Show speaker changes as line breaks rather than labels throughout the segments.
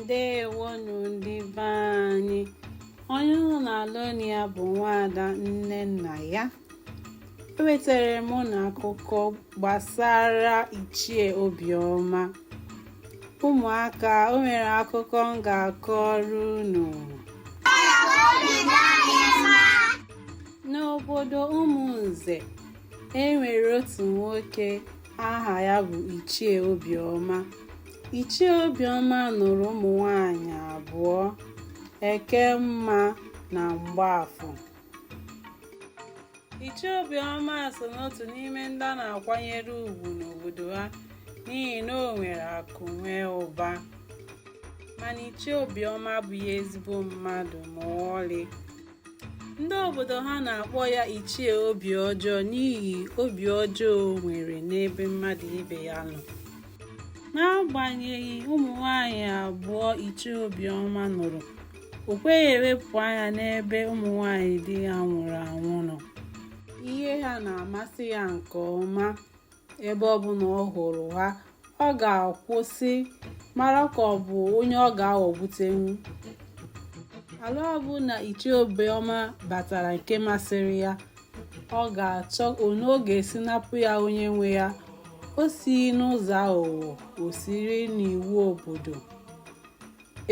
ndewonu ndị be anyị onye unu na-anụ olu ya bụ nwaada nnennaya ewetara m unu akụkọ gbasara ichie obiọma ụmụaka o nwere akụkọ m ga-akọrọ unu n'obodo ụmụnze e nwere otu nwoke aha ya bụ ichie obiọma ichie obiọma nụrụ ụmụ nwanyị abụọ ekemma na mgbaafọ ichie obiọma so n'otu n'ime ndị a na-akwanyere ugwu n'obodo ha n'ihi na o nwere akụ nwee ụba mana ichie obiọma abụghị ezigbo mmadụ ma ọlị ndị obodo ha na-akpọ ya ichie obi ọjọọ n'ihi obi ọjọọ o nwere n'ebe mmadụ ibe ya nọ n'agbanyeghị ụmụ nwanyị abụọ ichie obiọma nụrụ o kweghị ewepụ anya n'ebe ụmụ nwanyị di ya nwụrụ anwụ nọ ihe ha na-amasị ya nke ọma ebe ọ bụla ọ hụrụ ha ọ ga-akwụsị mara ka ọ bụ onye ọ ga-aghọgbutenwu ala ọbụla ichie obiọma batara nke masịrị ya ọ ga-achọ otu ọ ga-esi napụ ya onye nwe ya o sighị n'ụzọ aghụghọ o siri n'iwu obodo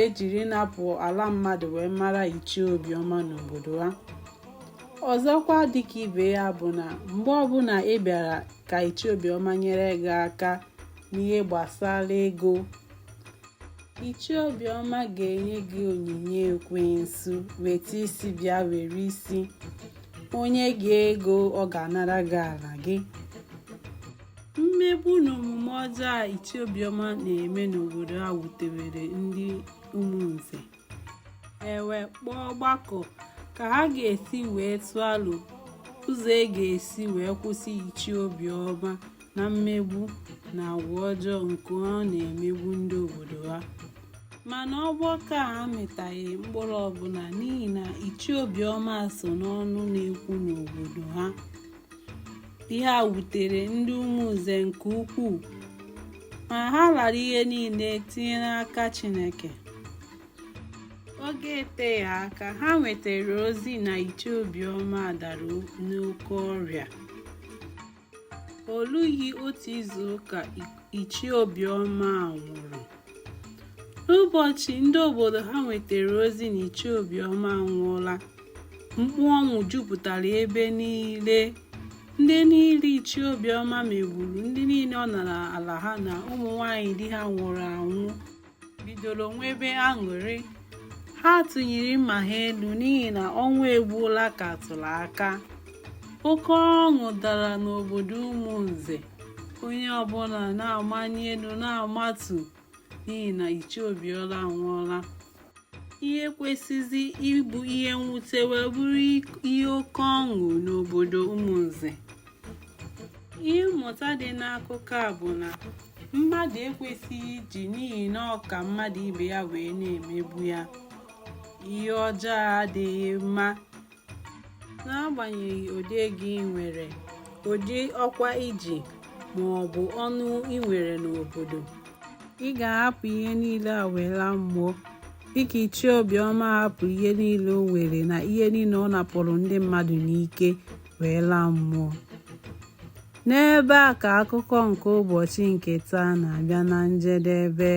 ejiri ịnapụ ala mmadụ wee mara ichie obiọma n'obodo ha ọzọkwa dịka ibe ya bụ na mgbe ọbụla ị bịara ka ichie obiọma nyere gị aka n'ihe gbasara ego ichie obiọma ga-enye gị onyinye ekwensu weta isi bịa were isi o nye gị ego ọ ga-anara gị ala gị mmegbu na omume ọjọọ a ichie obiọma na-eme n'obodo a wutewere ndị ụmụnze e wee kpọọ ọgbakọ ka ha ga-esi wee tụọ alo ụzọ a ga-esi wee kwụsị ichie obiọma na mmegbu na agwa ọjọọ nke ọ na-emegbu ndị obodo ha mana ọgbakọ a amịtaghị mkpụrụ ọbụla n'ihi na ichie obiọma so n'ọnụ na-ekwu n'obodo ha ihe a wutere ndị ụmụnze nke ukwuu ma ha lara ihe niile tinye n'aka Chineke oge eteghị aka ha nwetara ozi na ichie obiọma dara n'oke ọrịa o lughị otu izu ụka ichie obiọma nwụrụ n'ụbọchị ndị obodo ha nwetara ozi na ichie obiọma anwụọla mkpu ọnwụ jupụtara ebe niile ndị niile ichie obiọma megburu ndị niile ọ nara ala ha na ụmụ nwanyị di ha nwụrụ anwụ bidoro nwebe aṅụrị ha tụnyere mma ha elu n'ihi na ọnwụ egbuola ka a tụrụ aka oke ọṅụ dara n'obodo ụmụnze onye ọbụla na-amanye elu na-amatu n'ihi na Ichie Obiọma anwụọla ihe kwesịzi ịbụ ihe mwute wee bụrụ ihe oke ọṅụ n'obodo ụmụnze ihe mmụta dị n'akụkọ a bụ na mmadụ ekwesịghị iji n'ihi na ọ ka mmadụ ibe ya wee na-emegbu ya ihe ọjọọ adịghị mma n'agbanyeghị ụdị ego i nwere ụdị ọkwa i ji ma ọ bụ ọnụ i nwere n'obodo ị ga-ahapụ ihe niile a wee laa mmụọ dịka ichie obiọma hapụ ihe niile o nwere na ihe niile ọ napụrụ ndị mmadụ n'ike wee laa mmụọ n'ebe a ka akụkọ nke ụbọchị nke taa na-abịa na njedebe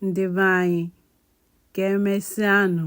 ndị be anyị ka emesịanụ